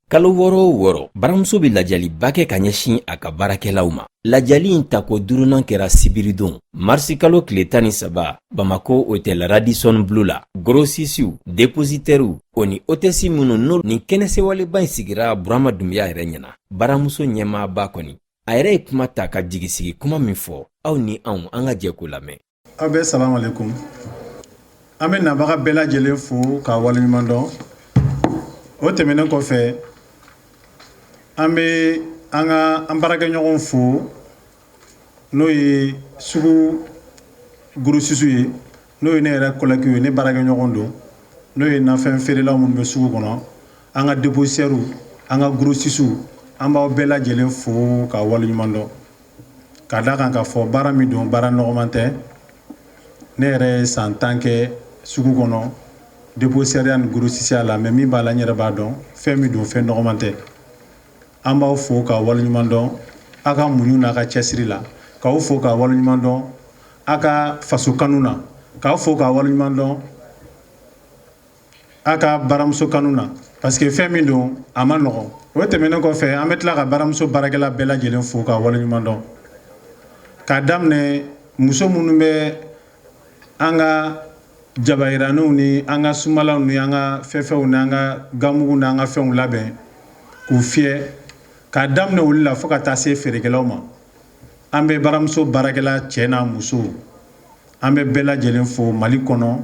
kalo wɔɔrɔ o wɔɔrɔ baramuso bɛ lajɛliba kɛ ka ɲɛsin a ka baarakɛlaw ma lajɛli in tako duurunan kɛra sibiridon marisikalo tile tan ni saba bamako otɛl radisɔn blu la gorosisiw depositɛriw o ni otɛsi minnu n'o ni kɛnɛ sewaleba in sigira burama dunbiya yɛrɛ ɲɛna baramuso ɲɛmaaba kɔni a yɛrɛ ye kuma ta ka jigisigi kuma min fɔ aw ni anw an ka jɛ k'o lamɛn aw bɛɛ salamu aleykum an bɛ nabaga bɛɛ lajɛlen fo k'a waleɲuman dɔn o tɛmɛnen kɔfɛ an bɛ an ka an baarakɛɲɔgɔnw fo n'o ye sugu gorosisiw ye n'o ye ne yɛrɛ kɔlɛkiw ye ne baarakɛɲɔgɔn don n'o ye nafɛn feerelaw minnu bɛ sugu kɔnɔ an ka depositɛriw an ka gorosisiw an b'aw bɛɛ lajɛlen fo ka waleɲuman dɔn ka da a kan k'a fɔ baara min don baara nɔgɔman tɛ ne yɛrɛ ye san tan kɛ sugu kɔnɔ depositɛriya ni gorosisiya la mɛ min b'a la n yɛrɛ b'a dɔn fɛn min don fɛn nɔgɔman tɛ an b'aw fo ka waleɲuman dɔn aw ka muɲu n'aw ka cɛsiri la k'aw fo ka waleɲuman dɔn aw ka faso kanu na k'aw fo ka waleɲuman dɔn a ka baramuso kanu na parce que fɛn min don a man nɔgɔ o tɛmɛnen kɔfɛ an bɛ tila ka baramuso baarakɛla bɛɛ lajɛlen fo ka waleɲuman dɔn k'a daminɛ muso minnu bɛ an ka jabayiraniw ni an ka sumalaw ni an ka fɛfɛw ni an ka ganmugu ni an ka fɛnw labɛn k'u fiyɛ k'a daminɛ olu la fo ka taa se feerekɛlaw ma an bɛ baramuso baarakɛla cɛ n'a muso an bɛ bɛɛ lajɛlen fo mali kɔnɔ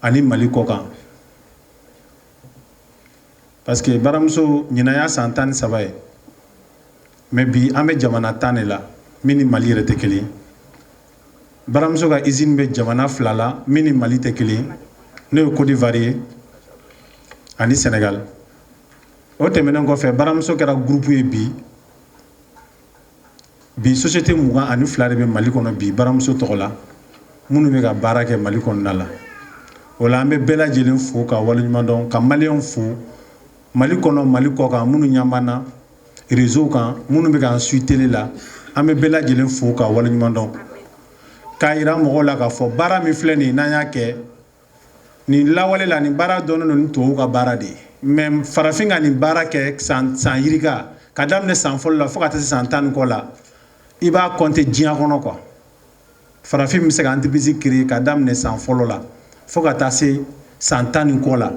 ani mali kɔkan parce que baramuso ɲinan y'a san tan ni saba ye mɛ bi an bɛ jamana tan de la min ni mali yɛrɛ tɛ kelen baramuso ka izini bɛ jamana fila la min ni mali tɛ kelen n'o ye kodiwari ye ani sɛnɛgali o tɛmɛnen kɔfɛ baramuso kɛra gurupu ye bi bi sosiyete mugan ani fila de bɛ mali kɔnɔ bi baramuso tɔgɔ la minnu bɛ ka baara kɛ mali kɔnɔna la o la an bɛ bɛɛ lajɛlen fo ka waleɲumandɔn ka maliyɛnw fo mali kɔnɔ mali kɔkan minnu ɲɛ b'an na rezow kan minnu bɛ k'an suivi tele la an bɛ bɛɛ lajɛlen fo ka waleɲumandɔn k'a jira mɔgɔw la k'a fɔ baara min filɛ nin n'an y'a kɛ nin lawale la nin baara dɔnnen don ni tubabu ka baara de ye mɛ farafin ka nin baara kɛ san yirika ka daminɛ san fɔlɔ la fo ka taa se san tan ni kɔ la i b'a kɔnte diɲɛ kɔnɔ kuwa farafin bɛ se ka antiripirisi kiri ka daminɛ san fɔlɔ la fo ka taa se san tan ni kɔ la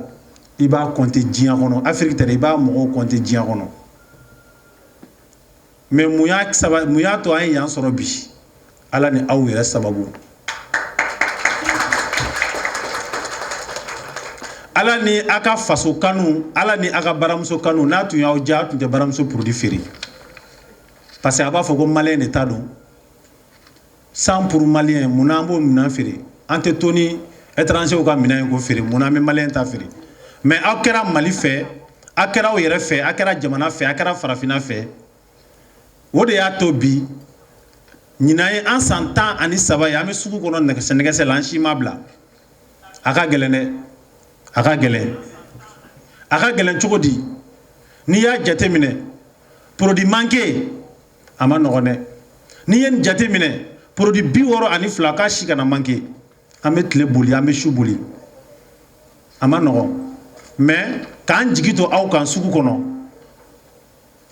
i b'a kɔnte diɲɛ kɔnɔ afiriki tɛ i b'a mɔgɔw kɔnte diɲɛ kɔnɔ mais mun y'a to an ye yan sɔrɔ bi ala ni aw yɛrɛ sababu ala ni a ka faso kanu ala ni a ka baramuso kanu n'a tun y'aw ja tun tɛ baramuso produit feere parce que a b'a fɔ ko malien de ta don cent pour malien mun na an b'o minɛn feere an tɛ to ni étrangerw ka minɛn ye k'o feere mun na an bɛ malien ta feere mais aw kɛra mali fɛ aw kɛra aw yɛrɛ fɛ aw kɛra jamana fɛ a kɛra farafinna fɛ o de y'a to bi ɲinan ye an san tan ani saba ye an bɛ sugu kɔnɔ nɛgɛs nɛgɛgɛsɛ la an si ma bila a ka gɛlɛn dɛ a ka gɛlɛn a ka gɛlɛn cogo di n'i y'a jateminɛ produit manqué a man nɔgɔn dɛ n'i ye nin jate minɛ produit bi wɔɔrɔ ani fila k'a si kana manqué an bɛ tile boli an bɛ su boli a man nɔgɔn mais k'an jigi to aw kan sugu kɔnɔ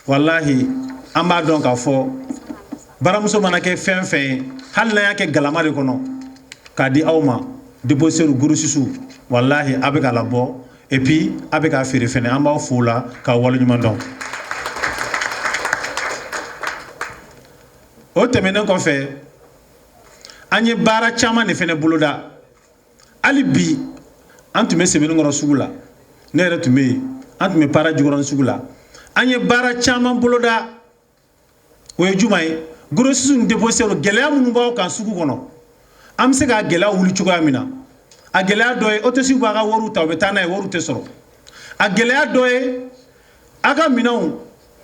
walahi an b'a dɔn k'a fɔ baramuso mana kɛ fɛn fɛn ye hali n'an y'a kɛ galama de kɔnɔ k'a di aw ma dépositaire grossistew walahi a bɛ k'a labɔ et puis a bɛ k'a feere fana an b'aw fo la k'a waleɲuman dɔn o tɛmɛnen kɔfɛ an ye baara caman de fana boloda hali bi an tun bɛ sebeninkɔrɔ sugu la ne yɛrɛ tun bɛ yen an tun bɛ para jikɔrɔni sugu la an ye baara caman boloda o ye juma ye grossiste dépositaire gɛlɛya minnu b'aw kan sugu kɔnɔ an bɛ se ka gɛlɛya wuli cogoya min na a gɛlɛya dɔ ye hôtesse b'a ka wari ta u bɛ taa n'a ye wari tɛ sɔrɔ a gɛlɛya dɔ ye aw ka minɛnw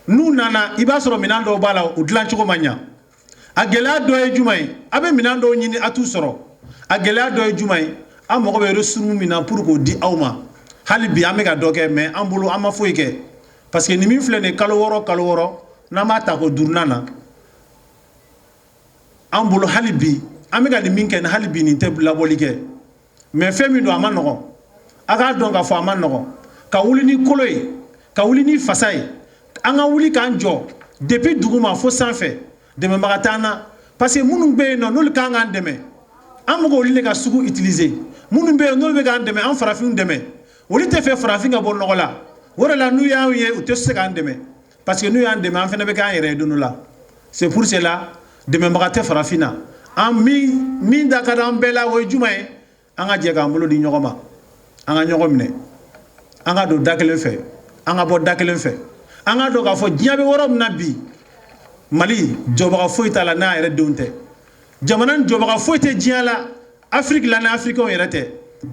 n'u nana i b'a sɔrɔ minɛn dɔw b'a la u dilan cogo ma ɲɛ a gɛlɛya dɔ ye juma ye aw bɛ minɛn dɔw ɲini a t'u sɔrɔ a gɛlɛya dɔ ye juma ye an mago bɛ ristourne min na pour k'o di aw ma hali bi an bɛ ka dɔ kɛ mais an bolo an ma foyi kɛ parce que ni min filɛ nin kalo wɔɔrɔ kalo wɔɔrɔ n'an b'a ta ko duurunan na an bolo hali bi an bɛ ka nin min kɛ ni hali bi nin tɛ labɔli kɛ mais fɛn min don a man nɔgɔn a k'a dɔn k'a fɔ a man nɔgɔn ka wuli ni kolo ye ka wuli ni fasa ye an ka wuli k'an jɔ depuis duguma fo sanfɛ dɛmɛbaga t'an na parce que minnu bɛ yen n'o n'olu ka kan dɛmɛ an bɛ k'olu de ka sugu utiliser minnu bɛ yen n'olu bɛ k'an dɛmɛ an farafinw dɛmɛ olu t'a fɛ farafin ka bɔ nɔgɔ la o de la n'u y'an ye u tɛ se k'an dɛmɛ parce que n'u y'an dɛmɛ an fana bɛ k'an yɛrɛ ye don dɔ la c'est pour cela dɛmɛbaga tɛ farafin na an min min da ka d'an bɛɛ la o ye juma ye an ka jɛ k'an bolo di ɲɔgɔn ma an ka ɲɔgɔn minɛ an ka don da kelen fɛ an ka bɔ da kelen fɛ an ka dɔn k'a fɔ diɲɛ bɛ yɔrɔ min na bi mali jɔbaga foyi t'a la n'a yɛrɛ denw tɛ jamana jɔbaga foyi tɛ diɲɛ la afiriki la ni afirikiw yɛrɛ tɛ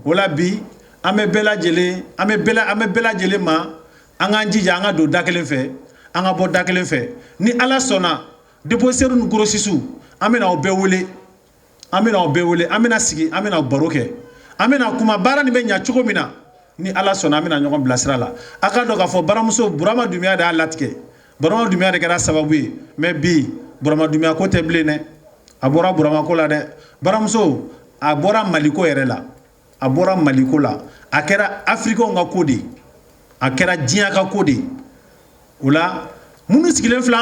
o la bi an bɛ bɛɛ lajɛlen an bɛ bɛɛ an bɛ bɛɛ lajɛlen ma an k'an jija an ka don da kelen fɛ an ka bɔ da kelen fɛ ni ala sɔnna depozitɛriw ni gorosisiw an bɛna aw bɛɛ wele an bɛna aw bɛɛ wele an bɛna sigi an bɛna baro kɛ an bɛna kuma baara nin bɛ ɲɛ cogo min na ni ala sɔnna an bɛna ɲɔgɔn bilasira la a ka dɔn k'a fɔ baramuso burama dunbiya de y'a latigɛ burama dunbiya de kɛra sababu ye mɛ bi burama dunbiya ko tɛ bilen dɛ a bɔra buramako la dɛ baramuso a bɔra maliko yɛrɛ la a bɔra maliko la a kɛra afiriki ka ko de ye a kɛra diɲɛ ka ko de ye o la minnu sigilen filɛ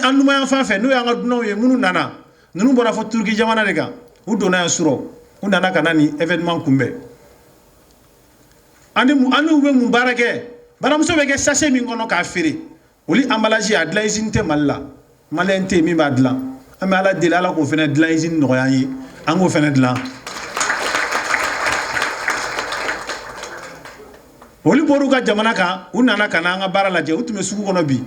an numan yanfan fɛ n'o y'an ka dunanw ye minnu nana ninnu bɔra fɔ turuki jamana de kan u donna yan surɔ u nana ka na nin evenement kunbɛn ani an n'u bɛ mun baara kɛ baramuso bɛ kɛ sase min kɔnɔ k'a feere olu emballage a dilan usine tɛ mali la maliyɛn tɛ yen min b'a dilan an bɛ ala deli ala k'o fana dilan usine nɔgɔya an ye an k'o fana dilan olu bɔr'u ka jamana kan u nana ka na an ka baara lajɛ u tun bɛ sugu kɔnɔ bi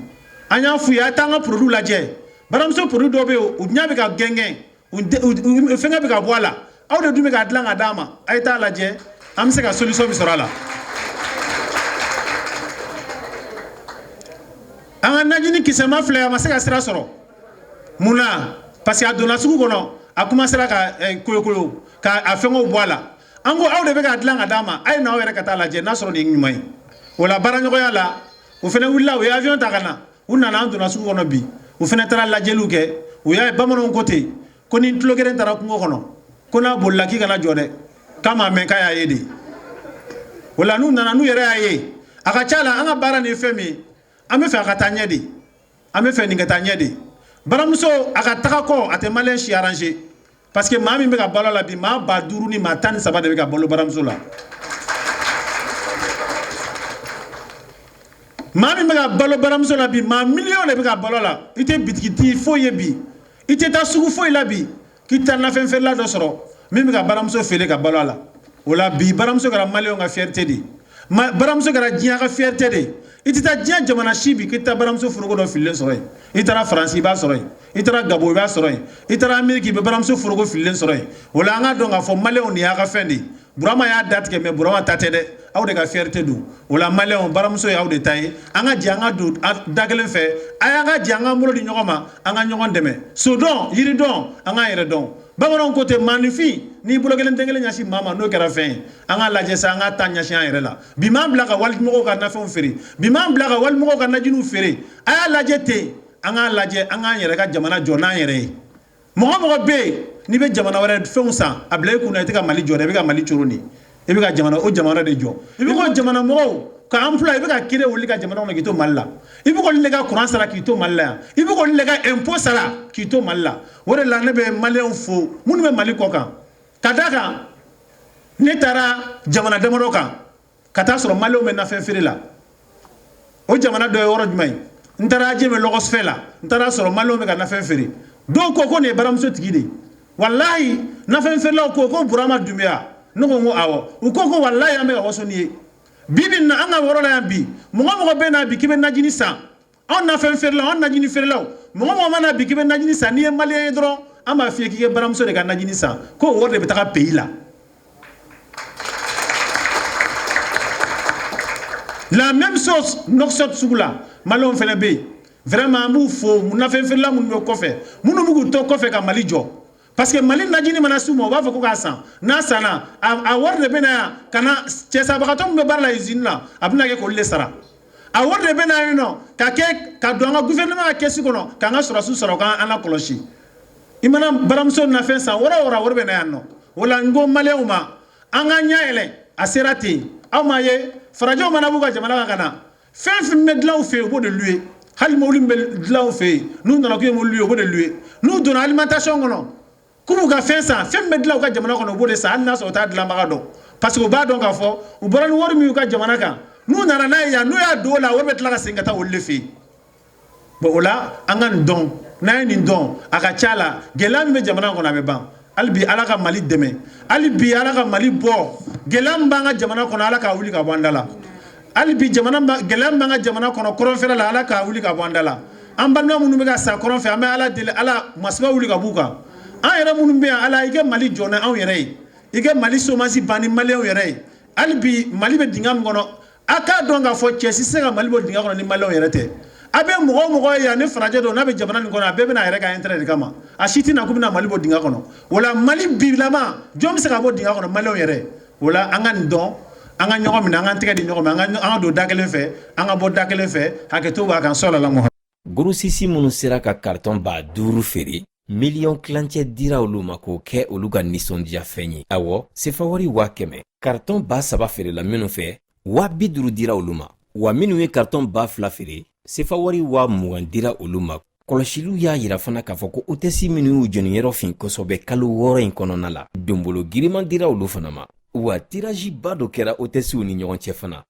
an y'a f'u ye a ye taa an ka produit lajɛ baramuso produit dɔ bɛ yen u ɲɛ bɛ ka gɛngɛn u fɛngɛ bɛ ka bɔ a la aw de dun bɛ k'a dilan ka d'an ma a ye t'a lajɛ an bɛ se ka solution min sɔrɔ a la an ka najini kisɛma filɛ a ma se ka sira sɔrɔ mun na parce que a donna sugu kɔnɔ a kɔmansera ka koyokoyo ka a fɛngɛw bɔ a la an ko aw de bɛ k'a dilan ka d'an ma a ye na aw yɛrɛ ka taa lajɛ n'a sɔrɔ nin ye ɲuman ye o la baaraɲɔgɔnya la u fana wulila u ye avion ta ka na u nana an donna sugu kɔnɔ bi u fana taara lajɛliw kɛ u y'a ye bamananw ko ten ko ni tulogeren taara kungo kɔnɔ ko n'a bolila k'i kana jɔ dɛ k'a m'a mɛn k'a y'a ye de o la n'u nana n'u yɛrɛ y'a ye a ka ca la an ka baara nin fɛn min an bɛ fɛ a ka taa ɲɛ de an bɛ fɛ nin ka taa ɲɛ de baramuso a ka taga kɔ a tɛ maliyɛn si arrange parce que maa min bɛ ka balo a la bi maa ba duuru ni maa tan ni saba de bɛ ka balo baramuso la maa min bɛ ka balo baramuso la bi maa miliyɔn de bɛ ka balo a la i tɛ bitigitigi foyi ye bi i tɛ taa sugu foyi la bi k'i tɛ nafɛn feerela dɔ sɔrɔ min bɛ ka baramuso feere ka balo a la o la bi baramuso kɛra maliyɛnw ka fiyɛrite de ye baramuso kɛra diɲɛ ka fiyɛrite de ye i tɛ taa diɲɛ jamana si bi k'i tɛ baramuso foroko dɔ fililen sɔrɔ yen i taara faransi i b'a sɔrɔ yen i taara gabɔn i b'a sɔrɔ yen i taara ameriki i bɛ baramuso foroko fililen sɔrɔ yen o la an k'a dɔn k'a fɔ maliyɛnw nin y'aw ka fɛn de ye burama y'a da tigɛ mais burama ta tɛ dɛ aw de ka fierté don o la maliyɛnw baramuso y'aw de ta ye an ka jɛ an ka don da kelen fɛ a y'an ka jɛ an k'an bolo di ɲɔgɔn ma an ka ɲɔgɔn dɛmɛ sodɔn yiridɔn an k'an yɛrɛ dɔn bamananw ko ten maanifin n'i bolokɔnin den kelen ɲɛsin maa ma n'o kɛra fɛn ye an k'a lajɛ sa an ka taa ɲɛsin an yɛrɛ la bi m'an bila ka walimɔgɔw ka nafɛnw feere bi m'an bila ka walimɔgɔw ka najiniw feere a y'a lajɛ ten an k'a lajɛ an k'an yɛrɛ ka jamana jɔ n'an yɛrɛ ye mɔgɔ o mɔgɔ bɛ yen n'i bɛ jamana wɛrɛ fɛnw san a bila i kunna i tɛ ka mali jɔ dɛ i bɛ ka mali coron de i bɛ ka jamana o jamana de jɔ i bɛ ka jamana mɔgɔw ka an fila i bɛ ka kiri wuli ka jamana kɔnɔ k'i to mali la i bɛ k'olu de ka kuran sara k'i to mali la yan i bɛ k'olu de ka impôt sara k'i to mali la o de la ne bɛ maliyɛnw fo minnu bɛ mali kɔkan ka d'a kan ne taara jamana damadɔ kan ka taa sɔrɔ maliyɛnw bɛ nafɛn feere la o jamana dɔ ye yɔrɔ jumɛn ye n taara Adjamé lɔgɔfiyɛ la n taara sɔrɔ maliyɛnw bɛ ka nafɛn feere dɔw ko ko nin ye baramuso tigi de ye walayi nafɛn feerelaw ko ko burama dunbiya ne ko n ko awɔ u ko ko walayi an bɛ ka waso n'i ye bi bi in na an ka yɔrɔ la yan bi mɔgɔ o mɔgɔ bɛ na bi k'i bɛ najini san anw nafɛn feerelaw anw najini feerelaw mɔgɔ o mɔgɔ mana na bi k'i bɛ najini san n'i ye maliyɛn ye dɔrɔn an b'a f'i ye k'i ka baramuso de ka najini san ko o wari de bɛ taa pays la la même chose Nouakchott sugu la maliyɛnw fana bɛ yen vraiment an b'u fo nafɛn feerela minnu bɛ kɔfɛ minnu bɛ k'u to kɔfɛ ka Mali jɔ parce que mali najini mana s'u ma u b'a fɔ ko k'a san n'a sanna a wari de bɛ na yan ka na cɛsabagatɔ min bɛ baara la izini na a bɛna kɛ k'olu de sara a wari de bɛ na yen nɔ ka kɛ ka don an ka gouvernement ka kɛsi kɔnɔ k'an ka sɔrɔdasiw sara u k'an lakɔlɔsi i mana baramuso nafɛn san yɔrɔ o yɔrɔ wari bɛ na yan nɔ o la n ko maliyɛnw ma an k'an ɲɛ yɛlɛ a sera ten aw m'a ye farajɛw mana b'u ka jamana kan ka na fɛn o fɛn bɛ dilan u fɛ yen u b'o de louer hali mobili min bɛ dilan u fɛ yen n'u nana k'u ye mobili louer u b'o de louer n'u donna alimentation kɔnɔ k'u b'u ka fɛn san fɛn min bɛ dilan u ka jamana kɔnɔ u b'o de san hali n'a sɔrɔ u t'a dilanbaga dɔn parce que u b'a dɔn k'a fɔ u bɔra ni wari min y'u ka jamana kan n'u nana n'a ye yan n'u y'a don o la wari bɛ tila ka segin ka taa olu de fɛ yen bon o la an ka nin dɔn n'an ye nin dɔn a ka ca la gɛlɛya min bɛ jamana kɔnɔ a bɛ ban hali bi ala ka mali dɛmɛ hali bi ala ka mali bɔ gɛlɛya min b'an ka jamana kɔnɔ ala k'a wuli ka bɔ an da la hali bi jamana ba- gɛlɛya min b'an ka jamana kɔnɔ kɔrɔnfɛla la ala k'a wuli ka bɔ an da la an balima minnu bɛ ka sa kɔrɔn fɛ an bɛ ala deli ala masiba wuli ka b'u kan an yɛrɛ minnu bɛ yan ala i ka mali jɔ ni anw yɛrɛ ye i ka mali somasi ban ni maliyɛnw yɛrɛ ye hali bi mali bɛ dingɛ min kɔnɔ A k'a dɔn k'a fɔ cɛ si se ka mali bɔ dingɛ kɔnɔ ni maliyɛnw yɛrɛ tɛ a bɛ mɔgɔ o mɔgɔ ye yan ni farajɛ don n'a bɛ jamana nin kɔnɔ a bɛɛ bɛ na a yɛrɛ ka intérêt de kama a si tɛ na k'u bɛna mali bɔ dingɛ kɔnɔ wala mali bilama jɔn bɛ se ka bɔ dingɛ kɔnɔ maliyɛnw yɛrɛ wala an ka nin dɔn an ka ɲɔgɔn minɛ an ka tɛgɛ di ɲɔgɔn ma an ka don da kelen fɛ an ka bɔ da kelen fɛ hakɛto b'a kan so la Gorosisi minnu sera ka karitɔn ba duuru feere miliyɔn tilancɛ dira olu ma k'o kɛ olu ka nisɔndiyafɛn ye awɔ sefawari waa kɛmɛ karitɔn ba saba feerela minnu fɛ waa bi duuru dira olu ma wa minnu ye karitɔn ba fila feere sefawari waa mugan dira olu ma kɔlɔsili y'a yira fana k'a fɔ ko otɛsi minnu y'u jeniyɔrɔ fin kosɔbɛ kalo wɔɔrɔ in kɔnɔna la donbolo giriman dira olu fana ma wa tiraziba dɔ kɛra otɛsiw ni ɲɔgɔn cɛ fana